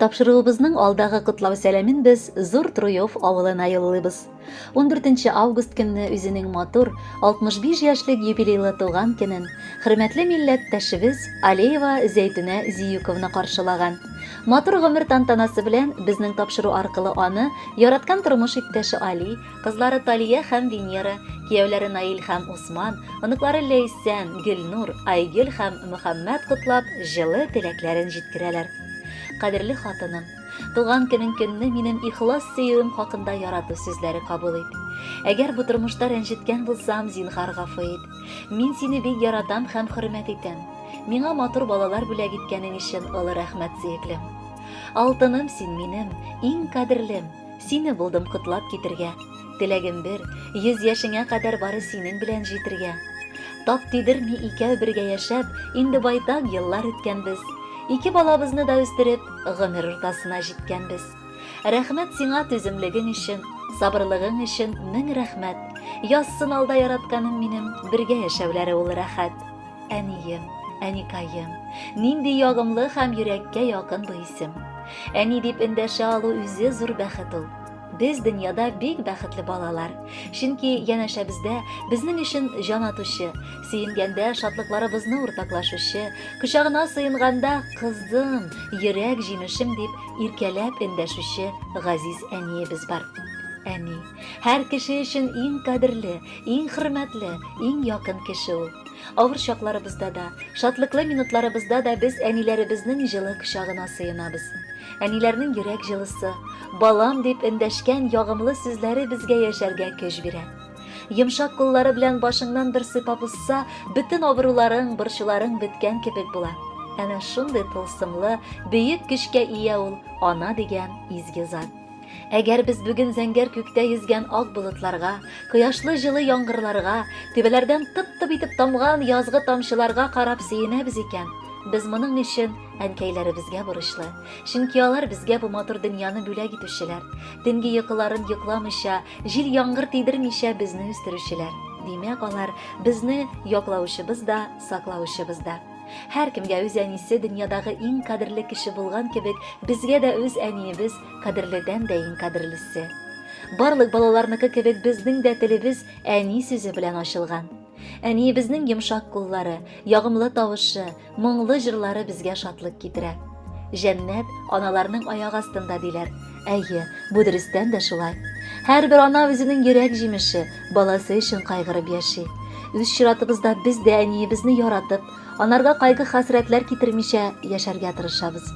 Тапшыруыбызның алдагы котлау сәламен без Зур Труев авылына юллыйбыз. 14 август көнне үзенең матур 65 яшьлек юбилейлы туган көнен хөрмәтле милләттәшебез Алеева Зәйтүнә Зиюковна каршылаган. Матур гомер тантанасы белән безнең тапшыру аркылы аны яраткан тормыш иптәше Али Кызлары Талия һәм Венера, кияүләре Наил һәм Усман, оныклары Ләйсән, Гөлнур, Айгөл һәм Мөхәммәт котлап, җылы теләкләрен җиткерәләр. Кадерле хатыным, туган көнең көнне минем ихлас сөюем хакында ярату сүзләре кабул ит. Әгәр бу тормышта рәнҗеткән булсам, зинһар гафу ит. Мин сине бик яратам һәм хөрмәт итәм. Миңа матур балалар бүләк иткәнең өчен олы рәхмәт, сөеклем. Алтыным син минем, иң кадерлем. Сине булдым котлап китергә. Теләгем бер, йөз яшеңә кадәр бары синең белән җитергә. Тап тидерми икәү бергә яшәп, инде байтак еллар үткәнбез. Ике балабызны да үстереп, гомер уртасына җиткәнбез. Рәхмәт сиңа түземлегең өчен, сабырлыгың өчен мең рәхмәт. Язсын алда яратканым минем, бергә яшәүләре ул рәхәт. Әнием, әникаем, нинди ягымлы һәм йөрәккә якын бу исем. Әни дип эндәшә алу үзе зур бәхет ул. Без дөньяда бик бәхетле балалар. Чөнки янәшәбездә безнең өчен җан атучы, сөенгәндә шатлыкларыбызны уртаклашучы, кочагына сыенганда кызым, йөрәк җимешем дип иркәләп эндәшүче газиз әниебез бар. Әни, һәр кеше өчен иң кадерле, иң хөрмәтле, иң якын кеше ул. Авыр чакларыбызда да, шатлыклы минутларыбызда да без әниләребезнең җылы кочагына сыенабыз. Әниләрнең йөрәк җылысы, балам дип эндәшкән ягымлы сүзләре безгә яшәргә көч бирә. Йомшак куллары белән башыңнан бер сыйпап узса, бөтен авыруларың, борчуларың беткән кебек була. Әнә шундый тылсымлы, бөек көчкә ия ул ана дигән изге зат. Әгәр без бүген зәңгәр күктә йөзгән ак болытларга, кояшлы җылы яңгырларга, түбәләрдән тып-тып итеп тамган язгы тамчыларга карап сөенәбез икән, без моның өчен әнкәйләребезгә бурычлы. Чөнки алар безгә бу матур дөньяны бүләк итүчеләр. Төнге йокыларын йокламыйча, җил яңгыр тидермичә безне үстерүчеләр. Димәк, алар безне яклаучыбыз да, саклаучыбыз да. Һәркемгә үз әнисе дөньядагы иң кадерле кеше булган кебек, безгә дә үз әниебез кадерледән дә иң кадерлесе. Барлык балаларныкы кебек безнең дә телебез әни сүзе белән ачылган. Әниебезнең йомшак куллары, ягымлы тавышы, моңлы җырлары безгә шатлык китерә. Җәннәт аналарның аяк астында диләр. Әйе, бу дөрестән дә шулай. Һәрбер ана үзенең йөрәк җимеше, баласы өчен кайгырып яши. Үз чиратыбызда без дә әниебезне яратып, анарга кайгы-хәсрәтләр китермичә яшәргә тырышабыз.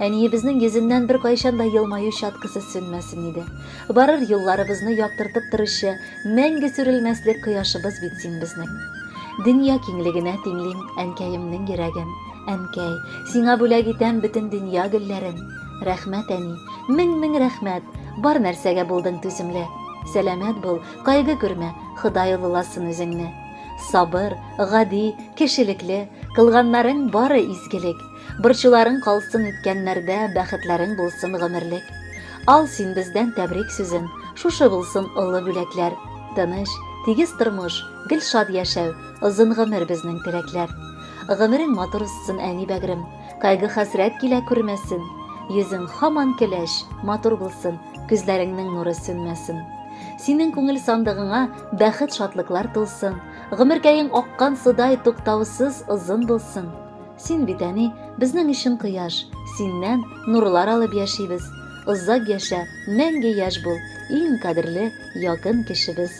Әниебезнең йөзеннән бер кайчан да елмаю чаткысы сүнмәсен иде. Барыр юлларыбызны яктыртып торучы мәңге сүрелмәслек кояшыбыз бит син безнең. Дөнья киңлегенә тиңлим әнкәемнең йөрәген. Әнкәй, сиңа бүләк итәм бөтен дөнья гөлләрен. Рәхмәт, әни, мең-мең рәхмәт, бар нәрсәгә булдың түземле. Сәламәт бул, кайгы күрмә, Ходай олыласын үзеңне. Сабыр, гади, кешелекле, кылганнарың бары изгелек. Борчуларың калсын үткәннәрдә, бәхетләрең булсын гомерлек. Ал син бездән тәбрик сүзен, шушы булсын олы бүләкләр. Тыныч, тигез тормыш, гел шат яшәү, озын гомер безнең теләкләр. Гомерең матур узсын, әни бәгърем. Кайгы хәсрәт килә күрмәсен, йөзең хаман көләч, матур булсын, күзләреңнең нуры сүнмәсен. Синең күңел сандыгыңа бәхет шатлыклар тулсын, гомеркәең аккан судай туктаусыз озын булсын. Син бит әни, безнең өчен кояш, синнән нурлар алып яшибез. Озак яшә, мәңге яшь бул, иң кадерле, якын кешебез.